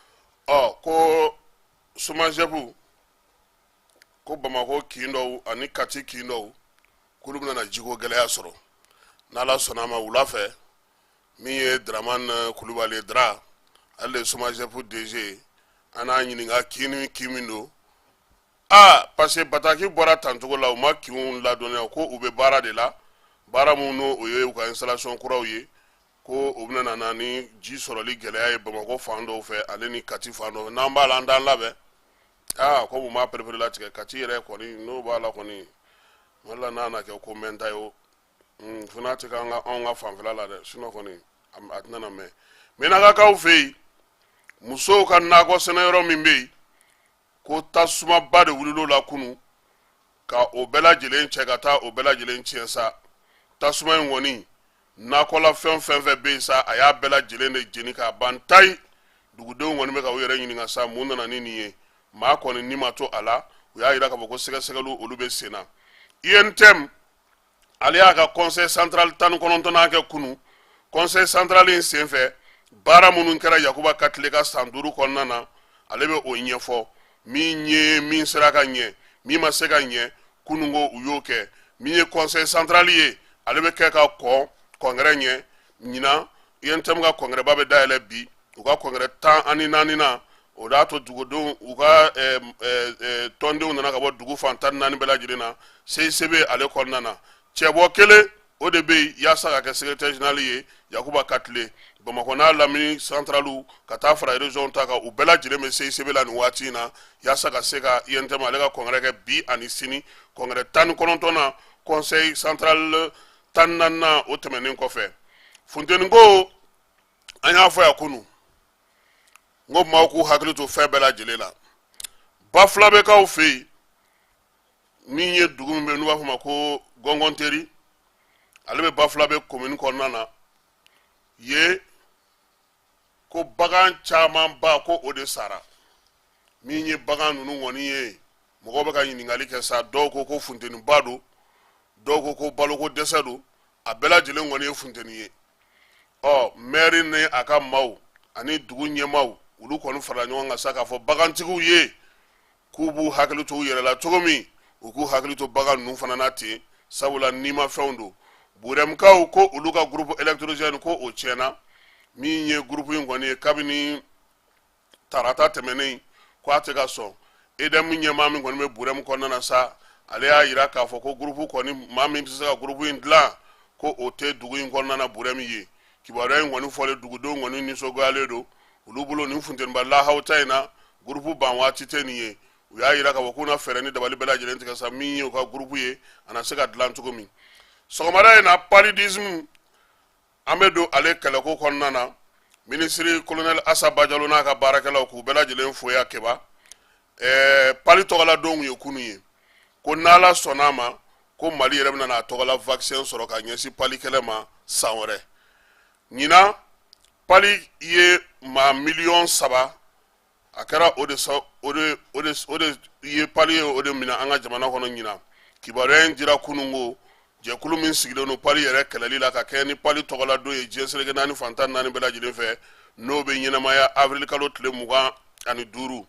ɔ ko somajɛbu ko bamakɔ kin dɔw ani kati kin dɔw k'olu bɛna jiko gɛlɛya sɔrɔ n'ala sɔnna a ma wula fɛ min ye daraman eh, kulubali dara ale de ye SOMAGEP DG an n'a ɲininka kin ni kin min don aa parce que bataki bɔra tan cogo la u ma kinw ladɔnniya ko u bɛ baara de la baara minnu n'o o ye u ka installation kuraw ye ko o bɛna na na ni ji sɔrɔli gɛlɛya ye bamakɔ fan dɔw fɛ ale ni kati fan dɔw fɛ n'an b'a la an t'an labɛn aa ko u m'a pereperelatigɛ kati yɛrɛ kɔni n'o b'a la kɔni wala n'a na kɛ ko mɛnta ye o hmm, fo n'a tɛ k'an ka fanfɛla la dɛ sinon kɔni a tɛna na mɛn mɛnakakaw fɛ yen musow ka nakɔ sɛnɛ yɔrɔ min bɛ yen ko tasumaba de wulila o la kunu ka o bɛɛ lajɛlen cɛ ka taa o bɛɛ lajɛlen tiɲɛ sa tasuma in kɔni nakɔlafɛn fɛn fɛn bɛ yen sa a y'a bɛɛ lajɛlen de jeni k'a ban tayi dugudenw kɔni bɛ ka u yɛrɛ ɲininka sa mun nana ni nin ye maa kɔni ni ma to a la u y'a jira k'a fɔ ko sɛgɛsɛgɛliw olu bɛ sen na UNTM ale y'a ka conseil central tan ni kɔnɔntɔnnan kɛ kunu conseil central in senfɛ baara minnu kɛra yakuba katile ka san duuru kɔnɔna na ale bɛ o ɲɛfɔ min ye min sera ka ɲɛ min ma se ka ɲɛ kunungo u y'o kɛ min ye conseil central ye ale bɛ kɛ ka kɔn congrès ɲɛ ɲinan UNTM ka congrès ba bɛ dayɛlɛ bi u ka congrès tan ani naaninan o y'a to dugudenw u ka tɔndenw nana ka bɔ dugu fan tan ni naani bɛɛ lajɛlen na CICB ale kɔnɔna na cɛbɔ kelen o de bɛ yen yaasa ka kɛ secrétaire général ye yakuba katile bamakɔ n'a lamini santaraliw ka taa fara région ta kan u bɛɛ lajɛlen bɛ CICB la nin waati in na yaasa ka se ka UNTM ale ka congrès kɛ bi ani sini congrès tan ni kɔnɔntɔnnan conseil central tan naaninan o tɛmɛnen kɔfɛ funteni ko an y'a fɔ yan kunun n ko maaw k'u hakili to fɛn bɛɛ lajɛlen la bafulabɛkaw fɛ yen min ye dugu min bɛ n'u b'a f'a ma ko gɔngɔnteri ale bɛ bafulabɛ komini kɔnɔna na ye ko bagan camanba ko o de sara min ye bagan ninnu kɔni ye mɔgɔw bɛ ka ɲininkali kɛ sa dɔw ko ko funteniba don dɔw ko ko baloko dɛsɛ don a bɛɛ lajɛlen kɔni ye funteni ye ɔ mɛri ni a ka maaw ani dugu ɲɛmaaw olu kɔni farala ɲɔgɔn kan sa k'a fɔ bagantigiw ye k'u b'u hakili to u yɛrɛ la cogo min u k'u hakili to bagan ninnu fana na ten sabula nimafɛnw don burɛmkaw ko olu ka groupe électrogène ko o tiɲɛna min ye groupe in kɔni ye kabini tarata tɛmɛnen ko a tɛ ka sɔn EDM ɲɛmaa min kɔni bɛ burɛmu kɔnɔna na sa ale y'a jira k'a fɔ ko groupe kɔni maa min bɛ se ka groupe in dilan ko o tɛ dugu in kɔnɔna na burɛmu ye kibaruya in kɔni fɔlen dugudenw kɔni nisɔngoyalen don olu bolo nin funteniba lahawuta in na gurupu ban waati tɛ nin ye u y'a jira k'a fɔ k'u na fɛɛrɛ ni dabali bɛɛ lajɛlen tigɛ sa min ye u ka gurupu ye a na se ka dilan cogo min sɔgɔmada in na paludisme an bɛ don ale kɛlɛko kɔnɔna na minisiri kolonɛli asa bajalo n'a ka baarakɛlaw k'u bɛɛ lajɛlen fo ya kɛba ɛɛ pali tɔgɔladonw ye kunu ye ko n'ala sɔnna a ma ko mali yɛrɛ bɛna n'a tɔgɔla vaccin sɔrɔ ka ɲɛsin pali kɛlɛ ma san wɛrɛ ɲinan pali ye maa miliyɔn saba a kɛra o de o de o de o de ye pali ye o de minɛ an ka jamana kɔnɔ ɲinan kibaruya in dira kunun ko jɛkulu min sigilen don pali yɛrɛ kɛlɛli la ka kɛɲɛ ni pali tɔgɔla don ye diɲɛ seleke naani fan tan naani bɛɛ lajɛlen fɛ n'o bɛ ɲɛnamaya avril kalo tile mugan ani duuru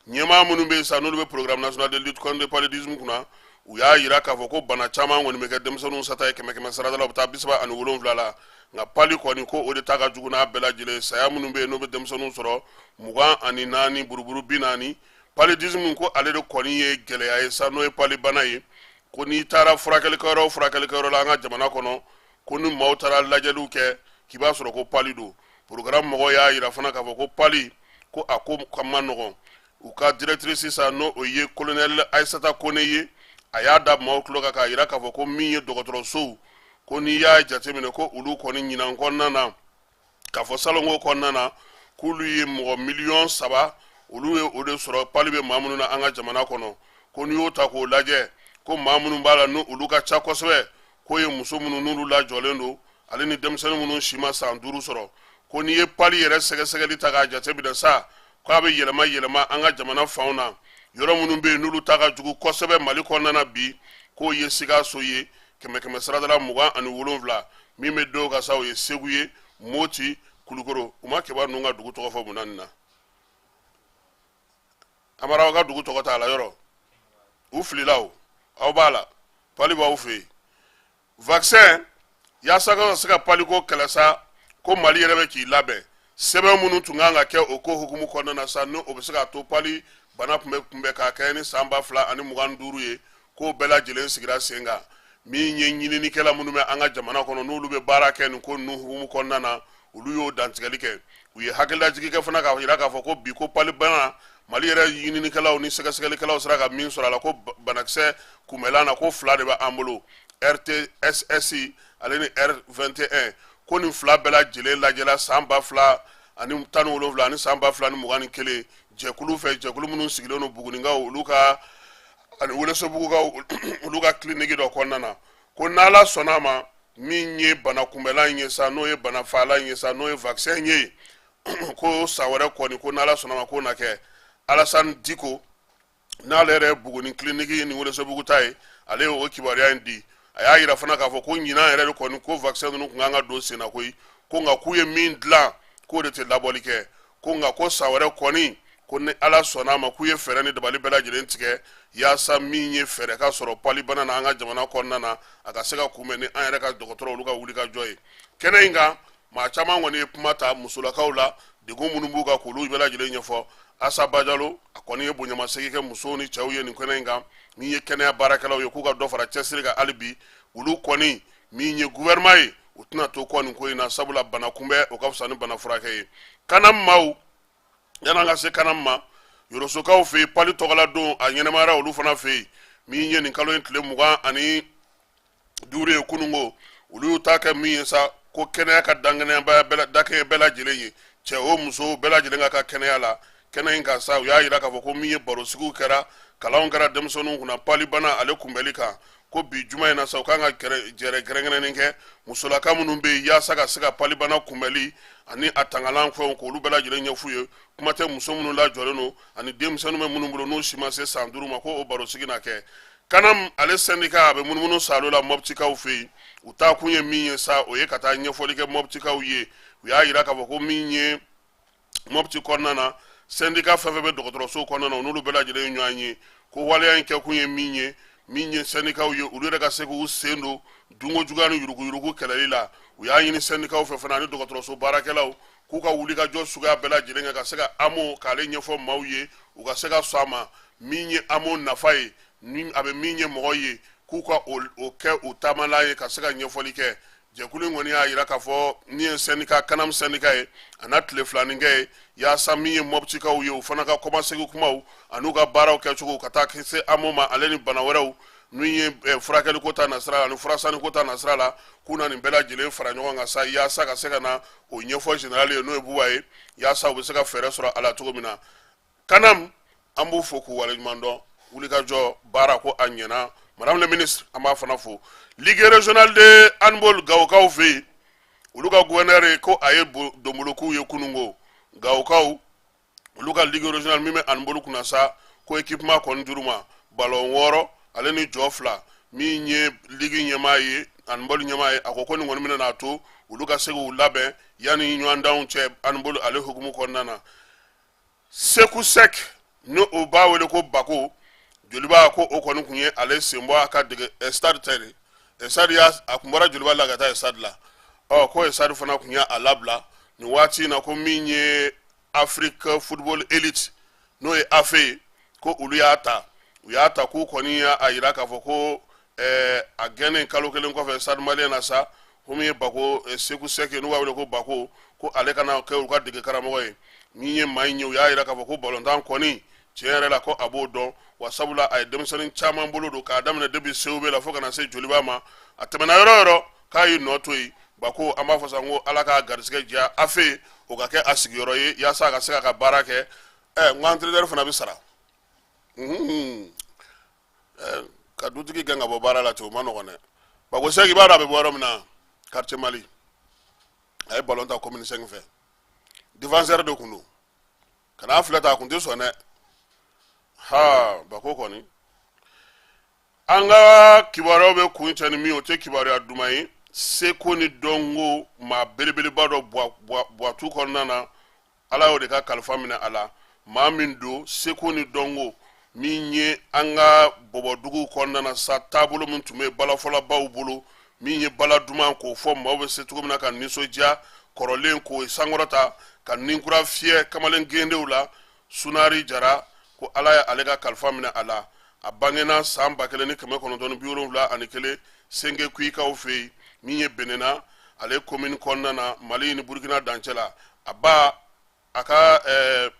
ɲɛmaa minnu bɛ yen sa n'olu bɛ programme national de lutte contre le paludisme kunna u y'a jira k'a fɔ ko bana caman kɔni bɛ kɛ denmisɛnninw sata ye kɛmɛ kɛmɛ sarada la u bɛ taa bi saba ani wolonwula la nka pali kɔni ko o de ta ka jugu n'a bɛɛ lajɛlen saya minnu bɛ yen n'o bɛ denmisɛnninw sɔrɔ mugan ani naani buruburu bi naani paludisme ko ale de kɔni ye gɛlɛya ye sa n'o ye palibana ye ko n'i taara furakɛlikɛyɔrɔ o furakɛlikɛyɔrɔ la an ka jamana kɔnɔ ko ni maaw taara lajɛliw kɛ k'i b'a sɔrɔ ko pali don porogaramu mɔgɔ y'a jira fana k'a fɔ ko pali ko a ko ka man nɔgɔn u ka directrice sisan n'o ye kolonɛli ayisata kone ye a y'a da maaw tulo kan k'a jira k'a fɔ ko min ye dɔgɔtɔrɔsow ko n'i y'a jateminɛ ko olu kɔni ɲinan kɔnɔna na k'a fɔ salon ko kɔnɔna na k'olu ye mɔgɔ miliyɔn saba olu ye o de sɔrɔ pali bɛ maa minnu na an ka jamana kɔnɔ ko n'i y'o ta k'o lajɛ ko maa minnu b'a la ni olu ka ca kosɛbɛ k'o ye muso minnu n'olu lajɔlen don ale ni denmisɛnnin minnu si ma san duuru sɔrɔ ko n'i ye pali yɛrɛ sɛgɛsɛgɛli ta k'a jate minɛ sa k'a bɛ yɛlɛma yɛlɛma an ka jamana fanw na yɔrɔ minnu bɛ yen n'olu ta ka jugu kosɛbɛ mali kɔnɔna na bi k'o ye sikaso ye kɛmɛ kɛmɛ sarada la mugan ani wolonwula min bɛ d'o kan sa o ye segu ye moti kulukoro u ma kɛba ninnu ka dugu tɔgɔ fɔ munna nin na amara aw ka dugu tɔgɔ t'a la yɔrɔ u filila o aw b'a la pali b'aw fɛ yen vaccin yaasa ka se ka paliko kɛlɛ sa ko mali yɛrɛ bɛ k'i labɛn sɛbɛn minnu tun ka kan ka kɛ o ko hukumu kɔnɔna na sa ni o bɛ se ka to pali bana tun bɛ kunbɛn ka kɛɲɛ ni san ba fila ani mugan duuru ye k'o bɛɛ lajɛlen sigira sen kan min ye ɲininikɛla minnu bɛ an ka jamana kɔnɔ n'olu bɛ baara kɛ nin ko ninnu hukumu kɔnɔna na olu y'o dantigɛli kɛ u ye hakililajigi kɛ fana k'a jira k'a fɔ ko bi ko pali bana mali yɛrɛ ɲininikɛlaw ni sɛgɛsɛgɛlikɛlaw sera ka min sɔrɔ a la ko banakisɛ kunbɛlan na ko fila de bɛ an bolo rtss ale ni r21 ko nin fila bɛɛ lajɛlen lajɛla san ba fila ani tan ni wolonwula ani san ba fila ni mugan ni kelen jɛkulu fɛ jɛkulu minnu sigilen don buguninkaw olu ka ani welesebugukaw olu ka kiliniki dɔ kɔnɔna na ko n'ala sɔnna a ma min ye bana kunbɛlan in ye sa n'o ye bana fagalan in ye sa n'o ye vaccin ye ko san wɛrɛ kɔni ko n'ala sɔnna a ma k'o na kɛ alasani diko n'ale yɛrɛ buguni kiliniki ni welesebugu ta ye ale ye o kibaruya in di a y'a yira fana k'a fɔ ko ɲinan yɛrɛ de kɔni ko vaccin ninnu tun kan ka don senna koyi ko nka k'u ye min dilan k'o de tɛ labɔli kɛ ko nka ko san wɛrɛ kɔni ko ni ala sɔnna a ma k'u ye fɛɛrɛ ni dabali bɛɛ lajɛlen tigɛ yaasa min ye fɛɛrɛ ka sɔrɔ palibana na an ka jamana kɔnɔna na a ka se ka kunbɛn ni an yɛrɛ ka dɔgɔtɔrɔ olu ka wulikajɔ ye kɛnɛ in kan maa caman kɔni ye kuma ta musolakaw la degun minnu b'u kan k'olu bɛɛ lajɛlen ɲɛfɔ asa bajalo a kɔni ye bonyamasegin kɛ musow ni cɛw ye nin kɛnɛ in kan min ye kɛnɛya baarakɛlaw ye k'u ka dɔ fara cɛsiri kan hali bi olu kɔni min ye gouvernement ye u tɛna to kɔ nin ko in na sabula bana kunbɛn o ka fisa ni bana furakɛ ye kana maaw yan'an ka se kana ma yorosokaw fɛ yen pali tɔgɔla don a ɲɛnamayara olu fana fɛ yen min ye nin kalo in tile mugan ani duuru ye kununko olu y'u ta kɛ min ye sa ko kɛnɛya ka dakɛɲɛ bɛɛ lajɛlen ye cɛ o muso bɛɛ lajɛlen ka ka kɛnɛya la kɛnɛ in kan sa u y'a yira k'a fɔ ko min ye barosigiw kɛra kalanw kɛra denmisɛnninw kunna palibana ale kunbɛli kan ko bi juma in na sa u kan ka jɛrɛ kɛrɛnkɛrɛnnen kɛ musolaka minnu bɛ yen yaasa ka se ka palibana kunbɛli ani a tangalan fɛnw k'olu bɛɛ lajɛlen ɲɛf'u ye kuma tɛ muso minnu lajɔlen don ani denmisɛnninw bɛ minnu bolo n'u si ma se san duuru ma ko o barosigi na kɛ kanam ale sɛndika a bɛ munumunu saalo la mɔbitikaw fɛ yen u taa kun ye min ye sa o ye ka taa ɲɛfɔli kɛ mɔbitikaw ye u y'a yira k'a fɔ ko min ye mɔbiti kɔnɔna na sɛndika fɛn fɛn bɛ dɔgɔtɔrɔso kɔnɔna na u n'olu bɛɛ lajɛlen ɲɔgɔn ye ko waleya in kɛkun ye min ye min ye sɛndikaw ye olu yɛrɛ ka se k'u sen don dunko juguya ni yuruguyurugu kɛlɛli la u y'a ɲini sɛndikaw fɛ fana ani dɔgɔtɔrɔso baarakɛlaw k'u ka wuli ka jɔ suguya bɛɛ lajɛlen kɛ ka se ka amo k'ale ɲɛfɔ maaw ye u ka se ka sɔn a ma min ye amo nafa ye ni a bɛ min ɲɛ mɔgɔ ye k'u ka o kɛ u taamala ye ka se ka ɲɛfɔli kɛ jɛkulu in kɔni y'a yira k'a fɔ ni ye sɛndika kanam sɛndika ye a na tile filanin kɛ yen yaasa min ye mɔbitikaw ye u fana ka kɔmasegi kumaw an'u ka baaraw kɛcogo ka taa se amo ma ale ni bana wɛrɛw n'u ye eh, furakɛliko ta nasira la ani furasaniko ta nasira la k'u na nin bɛɛ lajɛlen fara ɲɔgɔn kan sa yaasa ka se ka na o ɲɛfɔ général ye n'o ye buba ye yaasa u bɛ se ka fɛɛrɛ sɔrɔ a la cogo min na kanam an b'u fo k'u waleɲuman dɔn wulikajɔ baara ko a ɲɛna madame le ministre an b'a fana fo ligue régionale de handball gawokaw fɛ yen olu ka gouverneur ye ko a ye donbolokow ye kununko gawokaw olu ka ligue régionale min bɛ handball kunna sa ko équipement kɔni dir'u ma balɔn wɔɔrɔ ale ni jɔ fila min ye ligue ɲɛmaa ye handball ɲɛmaa ye a ko ko nin kɔni bɛna n'a to olu ka se k'u labɛn yanni ɲɔgɔndanw cɛ handball ale hukumu kɔnɔna na seku sɛk ni o b'a wele ko bako joliba ko o kɔni tun ye ale senbɔ a ka dege stade tɛ dɛ stade y'a a kun bɔra joliba la ka taa stade la ɔ ko stade fana tun y'a labila nin waati in na ko min ye afrique football elite n'o ye afe ye ko olu y'a ta u y'a ta k'u kɔni y'a jira k'a fɔ ko eh, a gɛnnen kalo kelen kɔfɛ stade malien na sa ko min ye bako eh, seku sɛke n'u b'a wele ko bako ko ale ka na kɛ u ka dege karamɔgɔ ye min ye maa in ye u y'a jira k'a fɔ ko balontan kɔni tiɲɛ yɛrɛ la ko a b'o dɔn wa sabula a ye denmisɛnnin caman bolo don k'a daminɛ depuis cob la fo ka na se joliba ma a tɛmɛna yɔrɔ o yɔrɔ k'a y'i nɔ to yen bako an b'a fɔ sa ko ala k'a garisɛgɛ diya a fɛ o ka kɛ a sigiyɔrɔ ye yaasa a ka se k'a ka baara kɛ ɛ n ko entraîneur fana bɛ sara ka dutigi gɛn ka bɔ baara la ten o ma nɔgɔn dɛ bako sɛk i b'a dɔn a bɛ bɔ yɔrɔ min na quartier mali a ye balon tan commune cinq fɛ défenseur de tun don kan'a filɛ tan a tun tɛ sɔn dɛ ha bako kɔni an ka kibaruyaw bɛ kuncɛ ni min o tɛ kibaruya duman ye seko ni dɔnko maa belebeleba dɔ buwatu kɔnɔna na ala y'o de ka kalifa minɛ a la maa min don seko ni dɔnko min ye an ka bɔbɔdugu kɔnɔna na sa taabolo min tun bɛ balafɔlabaw bolo min ye bala duman k'o fɔ maaw bɛ se cogo min na ka nisɔndiya kɔrɔlen k'o sankɔrɔta ka nin kura fiyɛ kamalen gendenw la sunari jara ko ala ye ale ka kalifa minɛ a la a bangena san ba kelen ni kɛmɛ kɔnɔntɔn ni biwolonwula ani kelen sengekuikaw fɛ yen min ye benena ale komini kɔnɔna na mali ni burkina dancɛ la a ba a ka ɛɛ eh,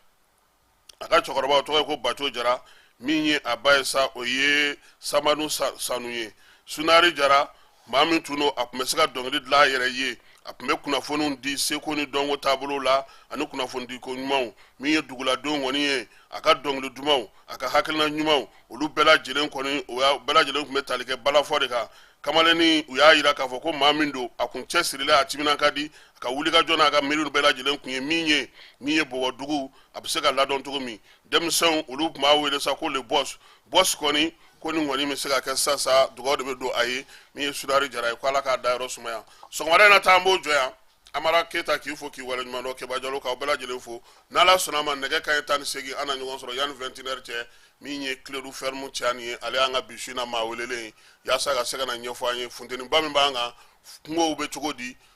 a ka cɛkɔrɔba o tɔgɔ ye ko baco jara min ye a ba ye sa o ye samanu sanu ye sunari jara maa min tun don a tun bɛ se ka dɔnkili dilan a yɛrɛ ye a tun bɛ kunnafoniw di seko ni dɔnko taabolo la ani kunnafonidiko ɲumanw min ye duguladenw kɔni ye a ka dɔnkili dumanw a ka hakilina ɲumanw olu bɛɛ lajɛlen kɔni o y'a bɛɛ lajɛlen tun bɛ tali kɛ balafɔ de kan kamalennin u y'a jira k'a fɔ ko maa min don a kun cɛsirilen a timinan ka di a ka wulikajɔ n'a ka miiriw bɛɛ lajɛlen tun ye min ye min ye bɔbɔdugu a bɛ se ka ladɔn cogo min denmisɛnw olu tun b'a wele sa ko le boss boss kɔni ko nin kɔni bɛ se ka kɛ sisan sa dugawu de bɛ don a ye min ye sunari jara ye ko ala k'a dayɔrɔ sumaya sɔgɔmada in na ta an b'o jɔ yan amara keyita k'i fo k'i waleɲumandɔn keba jalo k'aw bɛɛ lajɛlen fo n'ala sɔnn'a ma nɛgɛ kanɲɛ tan ni segin an na ɲɔgɔn sɔrɔ yanni vingt et une heures cɛ min ye kledu fɛrimu cɛya nin ye ale y'an ka bi su in na maa welelen ye yaasa ka se ka n'a ɲɛfɔ an ye funteniba min b'an kan kungow bɛ cogo di